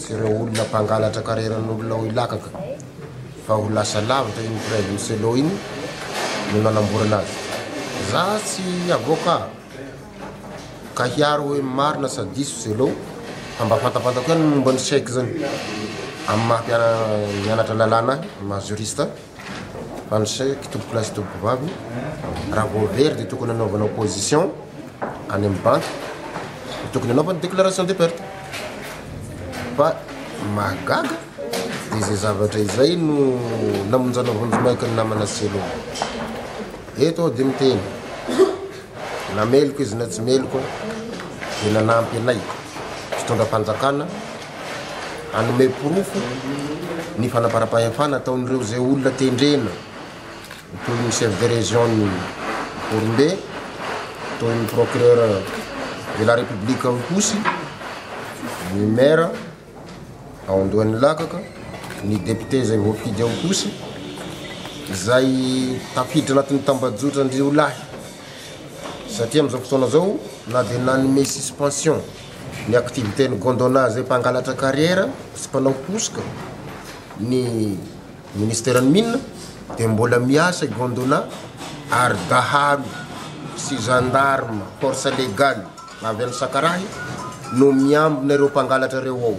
sy ireo olona mpangalatra kareran'olona ao Ilakaka fa ho lasa lavitra iny praizin'i Sello iny no nanamborana azy. Za tsy avoka ka hiaro hoe marina sa diso Sello fa mba fantapantako ihany ny momba ny chèque zany amin'ny maha mpianatra lalàna ahy, maha juriste ahy. Anse ky tompokolahy sy tompokovavy, raha vao very dia tokony hanaovana opposition any amin'ny banky, dia tokony hanaovana déclaration de perte. Fa ny mahagaga dia izay zavatra izay no namonjana vonjimaika ny namana Selo. Eto aho dia miteny, na meloka izy na tsy meloka dia nanampy anay mpitondram-panjakana, hanome porofo ny fanaparam-pahefana ataon'ireo izay olona tendrena toy ny chef de région-n'i Morombe, toy ny procureur de la République ao Ihosy, ny maire ao Andohan'ny Lakaka, ny député izay voafidy ao Ihosy, izay tafiditra anatin'ny tambajotran-driolahy satria amin'izao fotoana izao na dia nanome suspension Ny activité-n'i Gondwana izay mpangalatra kariera sy mpanao hosoka ny Ministeran'ny Mines dia mbola miasa i Gondwana ary dahalo sy gendarme force légale avy any Sakarahy no miambina ireo mpangalatra ireo ao.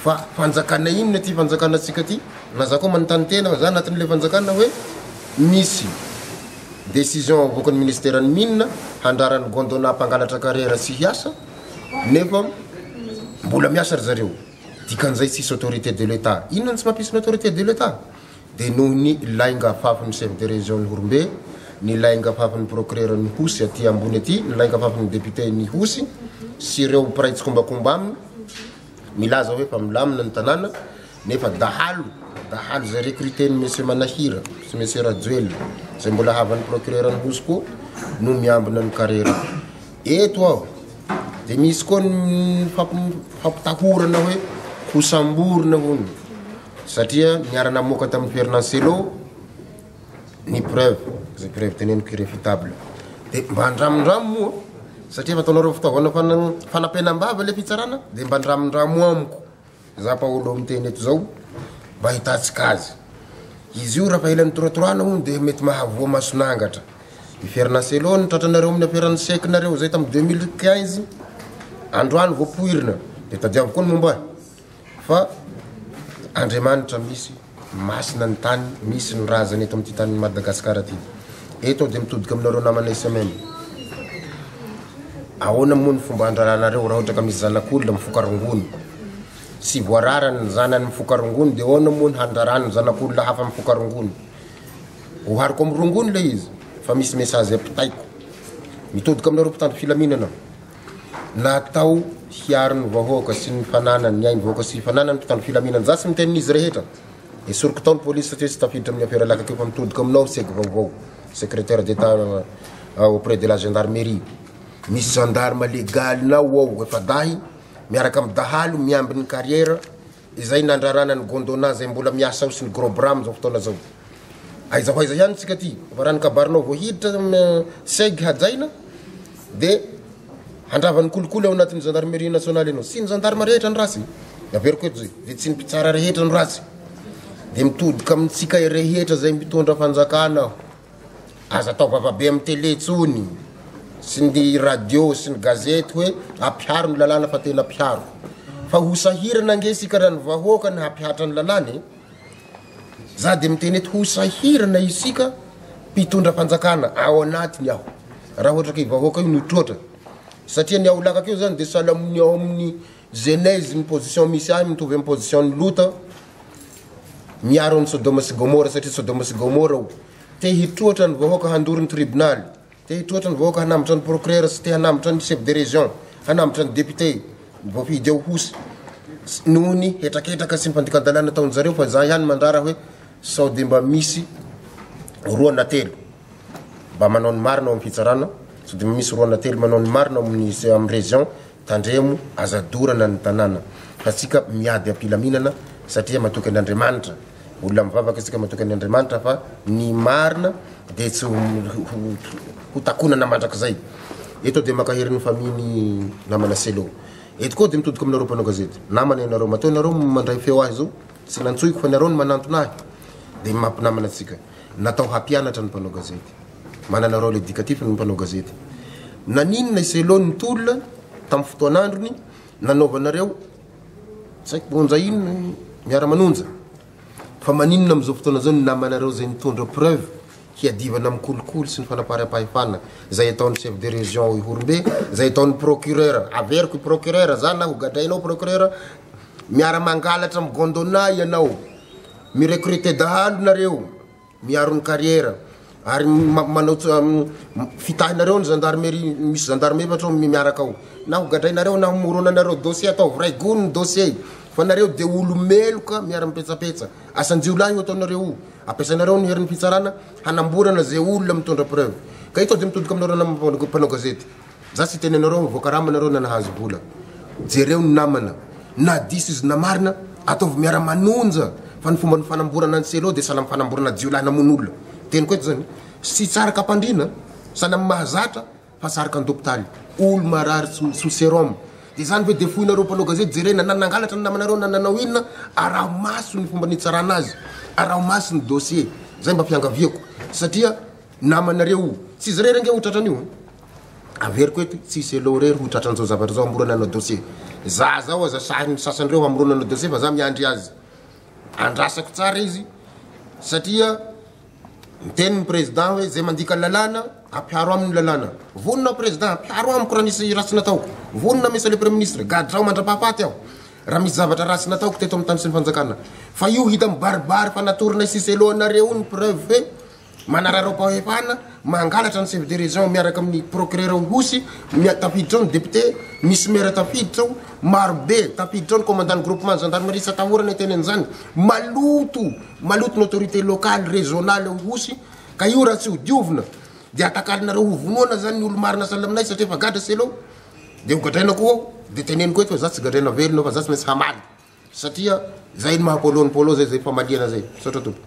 Fa fanjakana inona ity fanjakana antsika ity? Na za koa manontany tena fa za anatin'ilay fanjakana hoe misy decision avoakan'ny ministeran'ny mines handraran'ny gondona hampangalatra carrière tsy hiasa nefa mbola miasa ry zareo. Dikan'izay tsisy autorité de l'Etat. Inona no tsy mampisy ny autorité de l'Etat? dia noho ny lainga afafin'ny Chef de Région-n'i Horombe, ny lainga afafin'ny Procureur-n'Ihosy aty ambony aty, ny lainga afafin'ny Député-n'Ihosy sy ireo mpiray tsikombakomba aminy milaza hoe fa milamina ny tanàna nefa dahalo dahalo izay recruter-n'i Monsieur Manahira sy Monsieur Rajoelina izay mbola havan'ny Procureur-n'Ihosy koa no miambina ny karera Eto aho dia misy koa ny fampitahorana hoe ho samborina hono satria niara-namoaka tamin'ny toerana Selo ny preuve, izay preuve teneniko irréfutable. Dia mba andramindramo moa satria efa ataonareo fitaovana fanam- fanapenam-bava ilay fitsarana dia mba andramindramo amiko. Izaho Paolo miteny eto izao mba hitantsika azy. Izy io raha ela nitoratoraina hono dia mety mahavoa mason'angatra. I Fernacelo nitratranareo amin'ny aferan'ny chèque nareo izay tamin'ny deux mille quinze, androany voapoirina dia tadiavo koa ny momba ahy fa Andriamanitra misy. Masina ny tany misy ny razana eto amin'ity tanin'i Madagasikara ity. Eto aho dia mitodika aminareo namanay semaine. Ahoana moa ny fomba handraranareo raha ohatra ka misy zanak'olona mifoka rongony? Tsy voarara ny zanany mifoka rongony dia ahoana moa ny handraran'ny zanak'olona hafa mifoka rongony? Ohariko amin'ny rongony ilay izy fa misy message ampitaiko. Mitodika aminareo mpitandro filaminana aho. natao hiaro ny vahoaka sy ny fananany, ny aim-bahoaka sy fananany, ny mpitandro filaminana. Za tsy miteny n'izy rehetra. Esoriko tao ny polisy satria tsy tafiditra amin'ny afera lakakeo fa mitodika aminao seg vaovao, secrétaire d'état auprès de la gendarmerie. Misy gendarme legaly-nao ao, efa-dahy, miaraka amin'ny dahalo miambin'ny carrière. Izay nandrarana ny Gondwana izay mbola miasa ao sy ny Grobra amin'izao fotoana izao. Aiza ho aiza ihany tsika ty? Fa raha ny kabarinao vao hiditra seg hajaina dia handrava ny kolikoly ao anatin'ny Gendarmerie Nationale ianao. Tsy ny Gendarme rehetra no ratsy. Averiko eto izay. Dia tsy ny mpitsara rehetra no ratsy. Dia mitodika amintsika rehetra izay mitondra fanjakana aho. Aza atao vavabe amin'ny tele intsony sy ny radio sy ny gazety hoe ampiharo ny lalàna fa tena ampiharo. Fa ho sahirana ange isika raha ny vahoaka ny hampihatra ny lalàna e. Za dia miteny eto ho sahirana isika mpitondra fanjakana ao anatiny aho raha ohatra ka i vahoaka io no troatra satria ny aolaka akeo zany dia sahala amin'ny ao amin'ny genèse ny position misy ahy mitovy amin'ny position ny lota miaro an'i Sodoma sy Gomora satria Sodoma sy Gomora o te hitroatra ny vahoaka handoro ny tribonaly te hitroatra ny vahoaka hanambotra ny procureur sy te hanambotra ny chef de région hanambotra ny député voafidy ao hosy noho ny hetraketraka sy ny fandikan-dalàna ataon'ny zareo fa za ihany mandrara hoe sao dia mba misy roa na telo mba manao ny marina ao amin'ny fitsarana sao dia mba misy roa na telo manao ny marina ao amin'ny amin'ny région Tandremo, aza dorana ny tanàna fa tsika miady am-pilaminana satria matoky an' Andriamanitra, olona mivavaka tsika matoky an' Andriamanitra fa ny marina dia tsy ho takonana mandrakizay. Eto dia mankahery ny famille ny namana Cello. Eto koa dia mitodika aminareo mpanao gazety. Namana ianareo, matoa ianareo mandray feo ahy zao tsy nantsoiko fa ny areo no manantona ahy dia maha mpinamana antsika. Natao hampianatra ny mpanao gazety. Manana rôle éducatif ny mpanao gazety. Naninona i Cello nitolona tamin'ny fotoan'androny nanaovanareo tsy haiko monja inona ny miara-manonja? Fa maninona amin'izao fotoana izao ny namanareo izay mitondra preuve hiadivana amin'ny kolikoly sy ny fanaparam-pahefana izay ataon'ny chef de région ao Ihorombe, izay ataon'ny procureur, averiko i procureur za na hogadrainao procureur, miara-mangalatra amin'ny Gondona ianao, mi-recruter dahalo nareo. Miaro ny carrière ary manao fitahinareo ny gendarmerie misy gendarme efatra ao miaraka ao na ho gadrainareo na homoronanareo dossier ataovy ray gony ny dossier fa nareo de olo meloka miara mipetsapetsa asan-jiolahy io ataonareo io ampiasainareo ny herin'ny fitsarana hanamborana ze olona mitondra preuve ka ito de mitodoka aminareo namana mpanao gazety Za tsy hiteny anareo mivoaka rama nareo na nahazo vola. Jereo ny namana. Na diso izy na marina, ataovy miara manonja fa ny fomba nifanamborana an'i Cello dia sahala mifanamborana jiolahy namono olona. Teniko eto zany, tsy tsaraka ampandriana, sahala amin'ny mahazatra fa tsaraka an-dopitaly. Olo marary tsy sous serum. Dia zany ve dia foinareo mpanao gazety jerena na nangalatra ny namanareo na nanao inona, araho maso ny fomba nitsarana azy, araho maso ny dossier. Zay mba fiangaviako satria namanareo io. Tsy izy irery ange ho tratran'io. Averiko eto, tsisy elo irery ho tratra an'izao zavatra izao hamorana anao dossier. Za zao aza sahy ny sasany ireo hamorona anao dossier fa za miandry azy andrasako tsara izy satria miteny ny président hoe zay mandika lalàna ampiharo aminy ny lalàna. Vonona aho président ampiharo amiko raha misy ratsy nataoko. Vonona monsieur le premier ministre gadrao mandrapahafaty aho raha misy zavatra ratsy nataoko teto amin'ny tany sy ny fanjakana. Fa io hita mibaribary fa natoronay sisy elo anareo ny preuve hoe Manararaopaoepahana mangalatra ny chef de région miaraka amin'ny procureur ao Ihosy, mia- tafiditra ao ny député, misy maire tafiditra ao, marobe, tafiditra ao ny commandant ny groupement ny gendarmerie tsy atahorana hiteny an'izany, maloto, maloto ny autorité locale, régionale ao Ihosy, ka io raha tsy ho diovina dia atakalinareo ho vonoana zany ny olo-marina sahala aminay satria efa gadra seleo, de ho gadraina koa ao, de teneniko eto fa za tsy gadraina velona fa za tsy maintsy hamaly satria zay ny maha polo ny polo zay, zay famaliana zay, misaotra tompoko.